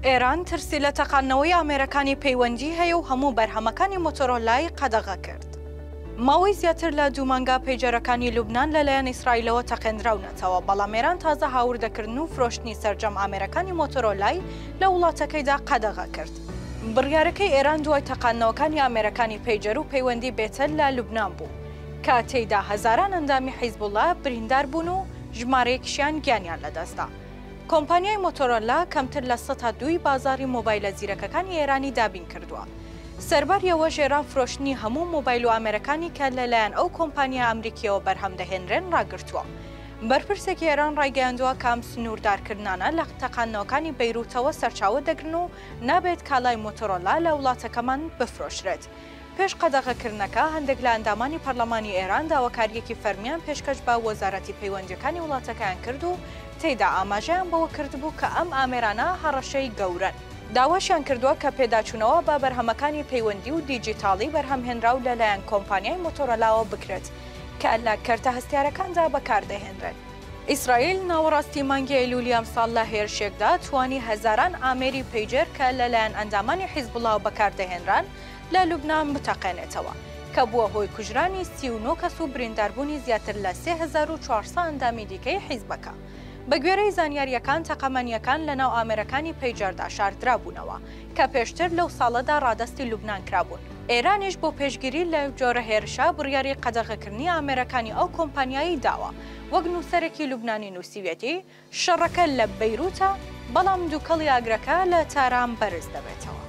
ئێران ترسی لە تەقاندنەوەی ئامێرەکانی پەیوەندی هەیە و هەموو بەرهەمەکانی مۆتۆرۆلای قەدەغە کرد. ماوەی زیاتر لە دوو مانگە پەیجەرەکانی لوبنان لەلایەن ئیسرائیلەوە تەقێندراونەتەوە، بەڵام ئێران تازە هاوردەکردن و فرۆشتنی سەرجەم ئامێرەکانی مۆتۆرۆلای لە وڵاتەکەیدا قەدەغە کرد. بڕیارەکەی ئێران دوای تەقاندنەوەکانی ئامێرەکانی پەیجەر و پەیوەندی بێتەل لە لوبنان بوو، کە تێیدا هەزاران ئەندامی حیزبوڵڵا بریندار بوون و ژمارەیەکیشیان گیانیان لەدەستدا. کۆمپانیای مۆتۆرۆلا کەمتر لە سەتا دووی بازاڕی مۆبایلە زیرەکەکانی ئێرانی دابین کردووە. سەرباری ئەوە ژێران فرۆشتنی هەموو مۆبایل و ئامێرەکانی کە لە لایەن ئەو کۆمپانیا ئەمریکییەوە بەرهەم دەهێنرێن ڕاگرتووە. بەرپرسێکی ئێران ڕایگەیاندووە کە ئەم سنووردارکردنانە لە تەقاندنەوەکانی بەیرووتەوە سەرچاوە دەگرن و نابێت کالای مۆتۆرۆلا لە وڵاتەکەمان بفرۆشرێت. پێش قەدەغەکردنەکە، هەندێک لە ئەندامانی پەرلەمانی ئێران داواکارییەکی فەرمییان پێشکەش بە وەزارەتی پەیوەندییەکانی وڵاتەکەیان کرد و تێیدا ئاماژەیان بەوە کردبوو کە ئەم ئامێرانە هەڕەشەی گەورەن. داواشیان کردووە کە پێداچوونەوە بە بەرهەمەکانی پەیوەندی و دیجیتاڵی بەرهەمهێنراو لە لایەن کۆمپانیای مۆتۆرۆلاوە بکرێت کە لە کەرتە هەستیارەکاندا بەکاردەهێنرێن. ئیسرائیل ناوەڕاستی مانگی ئەیلوولی ئەمساڵ لە هێرشێکدا توانی هەزاران ئامێری پەیجەر کە لە لایەن ئەندامانی حیزبوڵاوە بەکاردەهێنران لە لوبنان بتەقێنێتەوە، کە بووە هۆی کوژرانی سی و نۆ کەس و برینداربوونی زیاتر لە سێ هەزار و چوار سە ئەندامی دیکەی حیزبەکە. بەگوێرەی زانیارییەکان تەقەمەنییەکان لەناو ئامێرەکانی پەیجەردا شاردرابوونەوە، کە پێشتر لەو ساڵەدا ڕادەستی لوبنان کرابوون، ئێرانیش بۆ پێشگیری لەو جۆرە هێرشە بڕیاری قەدەغەکردنی ئامێرەکانی ئەو کۆمپانیایەی داوە، وەک نووسەرێکی لوبنانی نووسیویەتی، شەڕەکە لە بەیروتە، بەڵام دووکەڵی ئاگرەکە لە تاران بەرز دەبێتەوە.